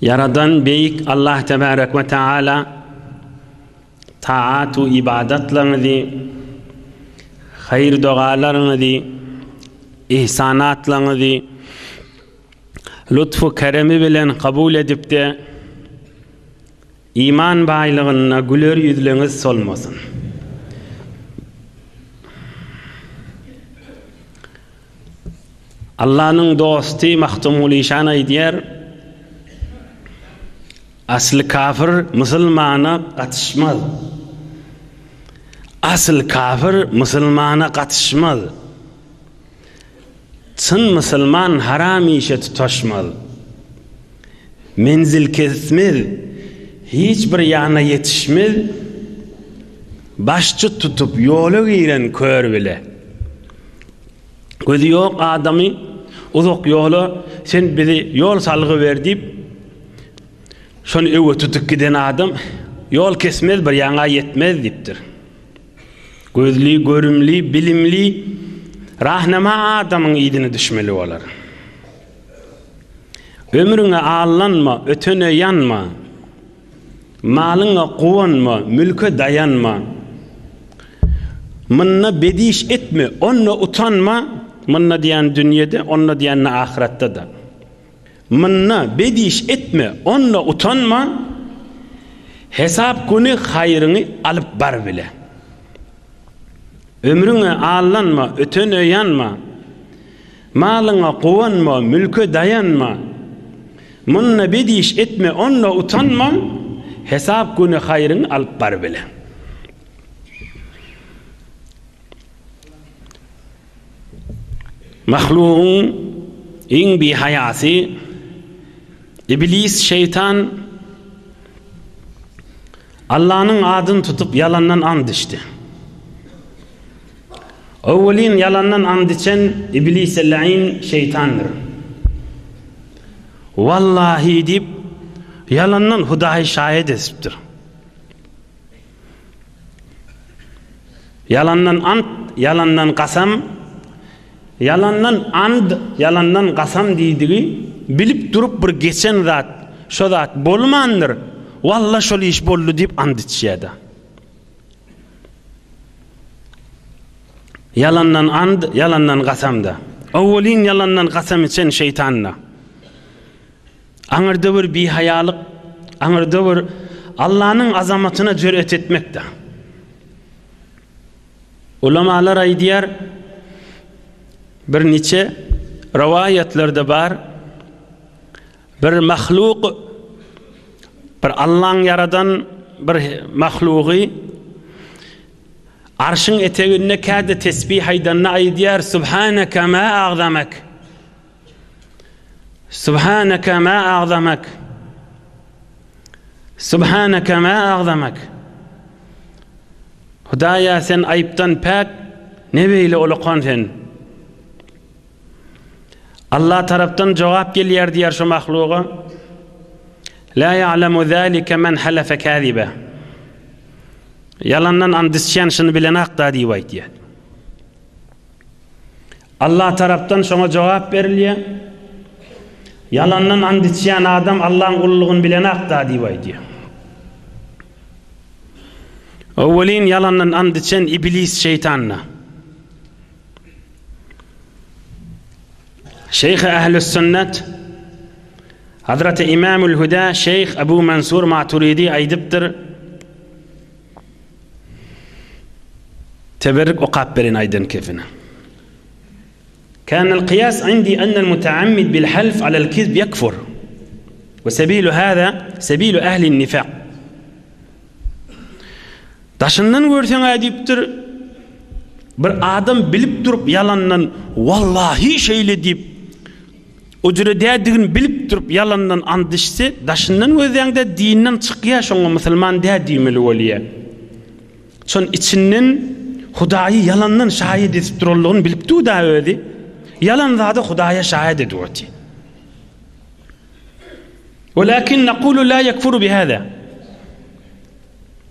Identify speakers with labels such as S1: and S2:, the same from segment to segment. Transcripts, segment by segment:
S1: Ýaradan Beýik Allah Tebärek we Teala taat-u ybadatlaryňyzy, haýyr-dogalaryňyzy, yhsanatlaryňyzy lutf-u keremi bilen kabul edip-de, Iman baýlygynda güler ýüzleňiz solmasyn. Allanyň dosty Magtymguly şan aýdýar, Asly kafir musulmana gatyşmaz. Asyl kafir musulmana gatyşmaz. Çyn musulman haram işe tutaşmaz. Menzil kesmez, hiç bir ýana ýetişmez. Başçy tutup ýola giren kör bile. Gözi ýok adamy uzak ýola sen bizi ýol salgy ber diýip şony öwe tutup giden adam ýol kesmez bir ýana ýetmez diýipdir. Gözli, görümli, bilimli, rahnama adamyň yzyna düşmeli bolar. Ömrüňe allanma, ötene ýanma. Malyňa guwanma, mülke daýanma. Mynda bediş etme, onda utanma, mynda diýen dünýede, onda diýende ahyratda-da. Munda bediş etme, onda utanma, Hesap güni haýryňy alyp bar bile. Ömrüňe aldanma, ötene ýanma, Malyňa guwanma, mülke daýanma, Munda bediş etme, onda utanma, Hesap güni haýryňy alyp bar bile. Mahlugyň iň bihaýasy Iblis şeýtan Allanyň adyny tutup ýalandan ant içdi. Owwelin ýalandan ant içen Iblise laýyn şeýtandyr. Wallahy diýip, ýalandan Hudaýy şaýat edipdir. Ýalandan ant, ýalandan gasam, ýalandan and, ýalandan gasam diýdigi bilip durup bir geçen zat, şo zat bolmandyr, walla şol iş boldy diýip ant içýärdi. Ýalandan and, ýalandan gasam-da. Owelin ýalandan gasam içen şeýtan-da. Aňyrda bir bihaýalyk, aňyrda bir Allanyň azamatyna jürýet etmekde. Ulamalar aýdýar, bir niçe rowaýatlarda bar, bir mahluk, bir Allaň ýaradan bir mahlugy Arşyň eteginde käde tesbih aýdanda aýdýar, Subhanaka ma agzamak. Subhanaka ma agzamak. Subhanaka ma agzamak. Hudaýa sen aýypdan päk, ne beýle ulukan sen. Allah tarapdan jogap gelýär diýär şu mahluga. La ya'lamu zalika men halafa kaziba. Yalandan andisçen şunu bilen akda diýip aýtýar. Allah tarapdan şoňa jogap berilýär. Ýalandan and içýän adam Allahyň ululygyny bilenakda diýip aýdýar. Owelin ýalandan and içen Iblis şeýtanda. Şeýh Ählüs Sünnet Hazreti İmamül Huda Şeýh Abu Mansur Maturidi aýdypdyr. Teberrik okap berin aýdan kefine. Kan al kyýas indi anna al mutaammid bil half ala al kizb ýekfur. Wa sabilu hada sabilu ahli al nifaq. Daşyndan görseň aýdypdyr bir adam bilip durup ýalandan wallahi şeýle diýip Ujre dädigini bilip durup ýalandan and içse daşyndan gözleýäňdä dinden çykýa şoňa musulman dä diýmeli bolýa. Şon içinden hudaýy ýalandan şaýyt edip duranlygyny bilip dur da özi ýalan zady hudaýa şaýyt edip otyr. Walakin nakulu la yakfuru bi hada.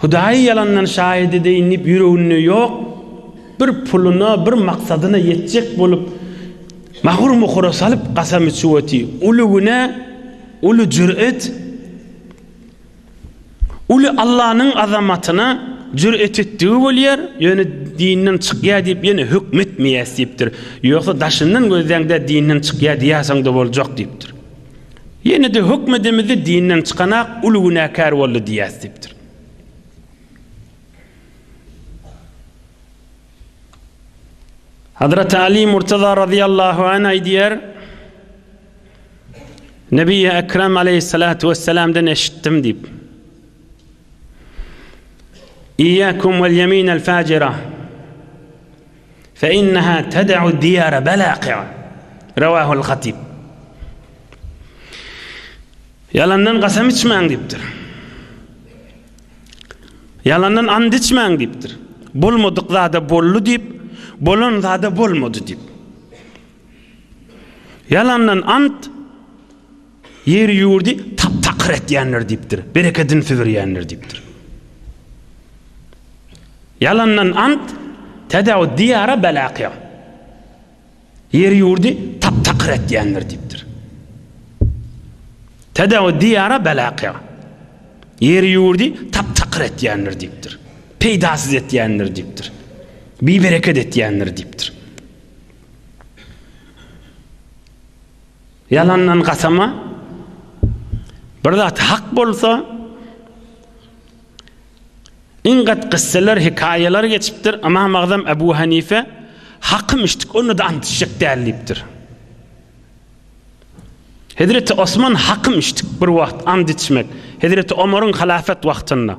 S1: Hudaýy ýalandan şaýat edeýin diýip ýüreginde ýok bir puluna bir maksadyna ýetjek bolup magur mukura salyp gasam içip oty uly günä uly jür'et uly Allanyň azamatyna jür'et etdigi bolýar ýöne dinden çykýa diýip ýene hökmetmeýäs diýipdir ýogsa daşyndan gözläňdä dinden çykýa diýäseňde boljak diýipdir. Ýene-de höküm edemizde dinden çykanak uly günäkär boldy diýýäs diýipdir. Hazreti Ali Murtaza razyýallahu anh aýdýar, Nebi Ekrem aleyhissalatu vesselamdan eşitdim diýip. İyyakum vel yeminel facira. Fe inneha ted'u diyara belaqi'a. Rawahul Hatib. Ýalandan gasam içmäň diýipdir. Ýalandan and içmäň diýipdir. Bolmadyk zada boldy diýip, bolan zada bolmady diýip. Ýalandan and Ýer-ýurdy tap-takyr etýänler diýipdir, berekedini süzürýänler diýipdir. Ýalandan ant, tädaw diýara bela kyýa. Ýer-ýurdy tap-takyr etýänler diýipdir. Tädaw diýara bela kyýa. Ýer-ýurdy tap-takyr etýänler diýipdir. Peýdasyz etýänler diýipdir. Bibereket etýänler diýipdir. Ýalandan gasama, bir zat hak bolsa, iň gat gysseler, hekaýalar geçipdir, Ymam Agzam Ebu Hanife, Hakym içdik, onda-da ant içjek däl diýipdir. Hezreti Osman Hakym içdik bir wagt, ant içmek, Hezreti Omaryň halafet wagtynda.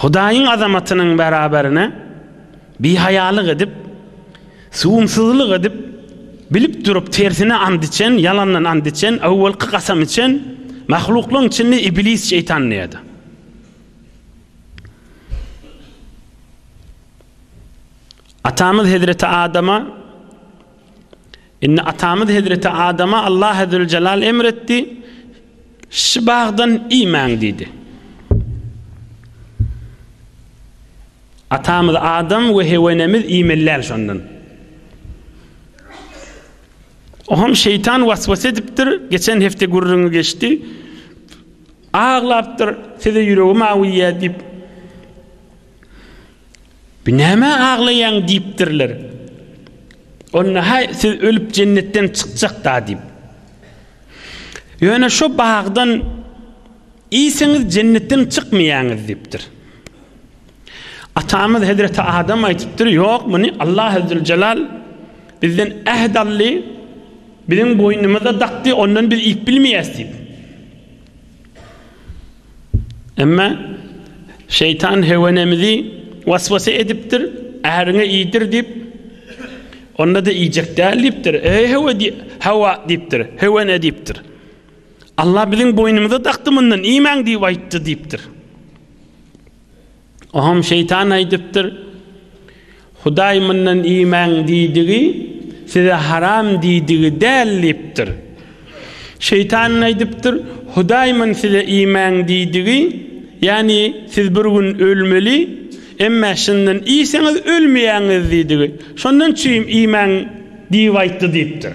S1: Hudaýyň azamatynyň bäraberine bihaýalyk edip, süwümsizlik edip, bilip durup tersine ant içen, ýalandan ant içen, öwelki kasam içen mahluklaryň içinde Iblis Şeýtan diýýärdi. Atamyz hezreti Adama Indi atamyz hezreti Adama Allah Azzeweljelal emr etdi, Şu bagdan iýmäň diýdi. Atamyz Adam we Hewa enemiz iýmeliler şondan. Oham şeytan vasvas edipdir. Geçen hefte gürrüňi geçdi. Ağlapdyr. Size yüreğim awiye dip. Bu nämä aglaýaň diýipdirler. Onda, Haý, siz ölüp jennetden çykjak-da diýip. Ýöne şo bagdan iýseňiz jennetden çykmaýaňyz diýipdir. Atamyz hezreti Adam aýdypdyr, Ýok, muny Allah Ezzülcelal bizden äht aldy, biziň boýnumyza dakdy, ondan biz iýip bilmeýäs diýip. Emma şeýtan hewenemizi waswasa edipdir, äriňe iýdir diýip, onda-da iýjek däl diýipdir. Eý hewe diý, hawa diýipdir, hewene diýipdir. Allah biziň boýnumyza dakdy mundan, iýmäň diýip aýtdy diýipdir. Oňam şeýtan aýdypdyr, Hudaý mundan iýmäň diýdigi, size haram diýdigi däl diýipdir. Şeýtan aýdypdyr, Hudaý mun size iýmäň diýdigi, ýagny siz bir gün ölmeli, emma şundan iýseňiz ölmeýäňiz diýdigi, şondan üçin iýmäň diýip aýtdy diýipdir.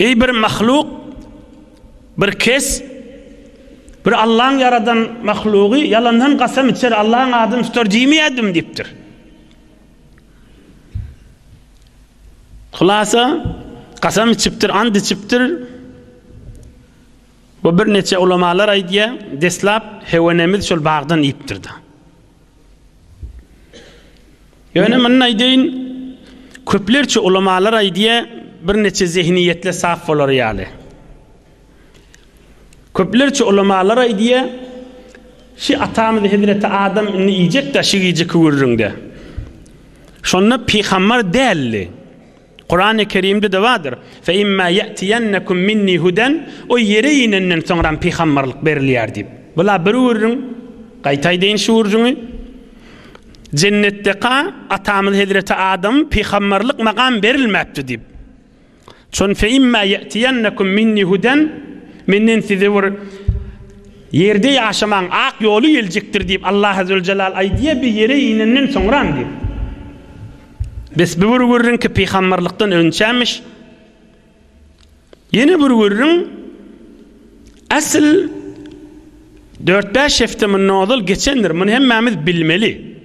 S1: Eý bir mahluk, bir kes, bir Allaň ýaradan mahlugy ýalandan gasam içer, Allaň adyny tutar diýmeýärdim diýipdir. Hulasa, gasam içipdir, and içipdir. Bu birneçe ulamalar aýdýar, deslap hewenemiz şol bagdan iýipdir-de. Ýöne muny aýdaýyn, köplerçe ulamalar aýdýar, birnäçe zehiniýetler sap bolary ýaly. Köplerçe ulamalar aýdýar, şi atamyz hezreti Adam indi iýjek daşy giýjeki gürrüňde. Şonda pygambar däldi. Kurany Kerimde-de bardyr, Fe imma ýetiýennekum minni huden, O ýere inenden soňram pygamberlik berilýär diýip. Bula bir gürrüň, gaýtaýdaýyn şu gürrüňi, Jennetdeka atamyz hezreti Adam pygamberlik magam berilmäpdi diýip. Şon Fe imma ýetiýennekum minni huden, Menden size bir ýerde ýaşamaň ak ýoly geljekdir diýip Allah Azzewejelal aýdýa bi ýere inenden soňram diýip. Bes bu bir gürrüňki pygamberlikden önçämiş. Ýene bir gürrüň asl 4-5 hepde mundan ozal geçendir. Muny hemmämiz bilmeli.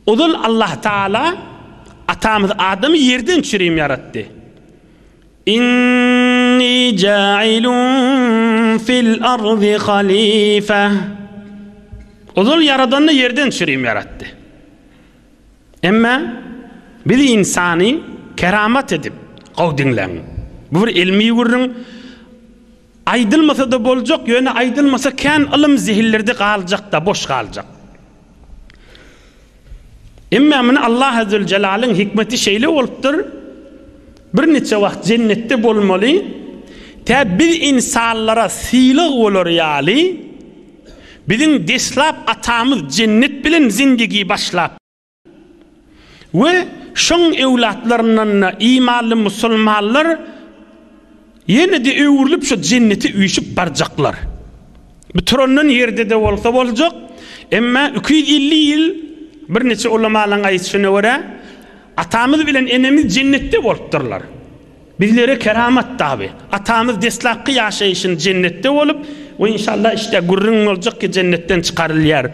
S1: Ozal Allah Taala atamyz Adamy ýerden çürim ýaratdy. Inni ja'ilun fil ardi halifa. Ozal ýaradanda ýerden çürim ýaratdy. Emma biz ynsany keramat edip gowy diňläň. Bu bir ilmi gürrüň aýdylmasa-da boljak, ýöne aýdylmasa kän ylym zehinlerde galjak-da, boş galjak. Emma muny Allah Azzeweljelalyň hikmeti şeýle bolupdyr, bir niçe wagt jennetde bolmaly, tä biz ynsanlara sylag bolar ýaly, Biziň deslap atamyz jennet bilen zindigi başlap we şoň öwlatlaryndan-da imanly musulmanlar ýene-de öwrülip şo jennete üýşüp barjaklar. Bu turandan ýerde-de bolsa boljak, emma iki ýüz elli ýyl birnäçe ulamalaryň aýdyşyna görä, atamyz bilen enemiz jennetde bolupdyrlar. Bizlere keramat dabi. Atamyz deslapky ýaşaýşyn jennetde bolup we inşallah işte gürrüň boljak ki jennetden çykarylýar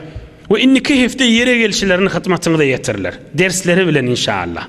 S1: we indiki hepde ýere gelşilerini hyzmatyňyza ýetirler. Dersleri bilen inşallah.